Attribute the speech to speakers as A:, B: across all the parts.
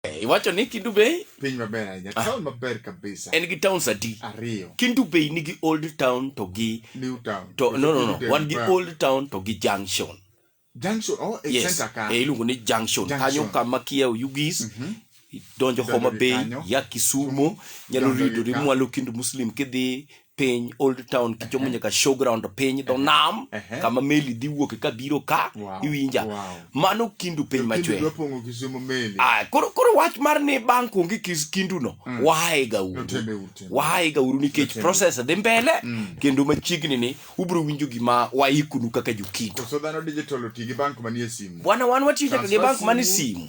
A: Eh, iwacho ni Kindu Bay piny maber ahinya ah.
B: town maber kabisa en gi towns adi
A: ariyo Kindu Bay
B: nigi
A: old town to gi new town to no
B: no no wan
A: gi old town to gi junction junction
B: oh e yes. center
A: ka e iluongo ni
B: junction, junction.
A: kanyo kama kia Oyugis mm -hmm. donjo Homa Bay ya Kisumo nyalo ridori mwalo Kindu Muslim kidhi piny old town kichomo uh-huh. nyaka showground piny dho uh-huh. nam uh-huh. kama meli dhi wuoke ka biro ka wow. iwinja wow. mano kindu piny machwe ah, koro, koro wach mar ni bank onge kis kinduno mm. waega uru waega uru nikech process dhi mbele mm. kendo machiegni ni ubiro winjo gima waikunu kaka jokindu
B: bwana wan watiyo nyaka gi
A: bank manie simu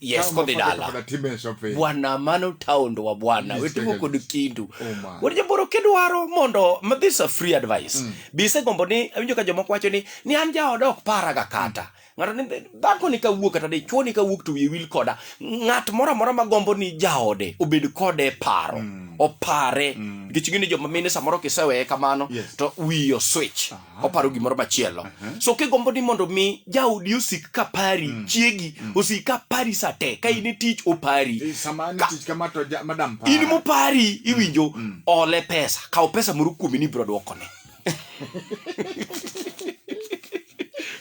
B: yes Tao kodhi mafaka
A: dala kapata time shopping. bwana mano taondo wa bwana Yes, wetimo yes. kod kindu Oh, man. wuod jaboro kidwaro mondo ma this a free advice mm. bisegombo ni awinjo ka jomoko wacho ni ni an jaoda ok paraga kata ng'ato ni dhako ni kawuok kata dichwo ni kawuok to wiye wil koda ng'at moro amora ma gombo ni jaode obed kode e paro mm. opare nikech mm. gini joma mine samoro kiseweye kamano Yes. to wiyo switch Ah. oparo gimoro machielo uh-huh. so kigombo ni mondo mi jaodi osik ka pari mm. chiegi mm. osik ka pari sa te ka in e tich opari eh,
B: in mopari mm.
A: iwinjo mm. mm. ole pesa kaw pesa moro kuomi ni biro dwokone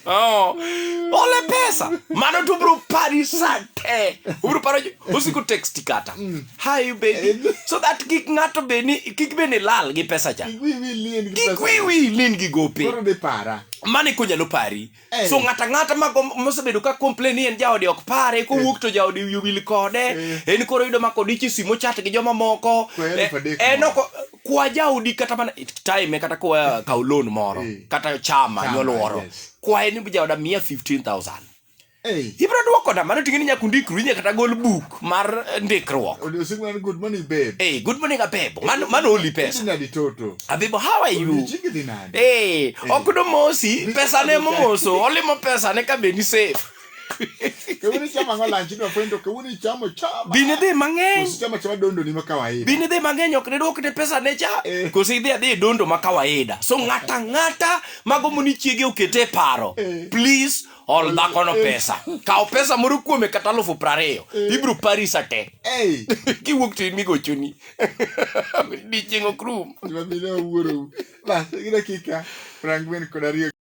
A: Oh. ole pesa mano to bro pari sa te obro paro osiko text kata mm. Hi baby. So that kik ng'ato be ni kik be ni lal gi pesa cha. Kik wiwi lien gi Kik pesa. wiwi lin gi gope. Koro de para.
B: Mane ko nyalo pari.
A: Eh. So ng'ata ng'ata ma gom- mosebedo ka complain ni en jaode ok pare kowuok to jaode wiye wil kode. En koro yudo ma kodichi simo chat gi joma moko. Kwa Eh, elfu adek En moro. ok kwa jaodi kata mana time kata kwa kaw loan moro Eh. kata chama Chama, nyoluoro. yes. Kwa en jaoda mia 15000. Hey. Ibro duoko da mano ting'eni nyaka undikru inya kata gol book mar eh, ndikruok. Odiochieng' man good morning
B: babe. Hey, good morning Abebo.
A: Mano mano oli pesa. Nadi toto. Abebo how are you? Odiochieng' idhi nade? Hey, ok domosi pesa ne momoso olimo pesa ne ka be ni safe.
B: Kawuono ichamo ang'o lunch idwa fweny to kawuono ichamo chama. Bine dhi mang'eny. Koso
A: ichamo chama dondo ni ma
B: kawaida. Bine dhi mang'eny ok
A: diduok ne pesa ne cha. Eh. Koso idhi adhi e dondo ma kawaida. So ng'ata ng'ata mago moni chiege okete e paro. Eh. Please ol dhakono pesa kaw pesa moro kuome kata alufu prariyo ibiro pari sa te Ei, kiwuok to in migochoni
B: dichieng' ok rum
A: gima
B: mine awuorou. Bas, gi dakika prang'wen kod ariyo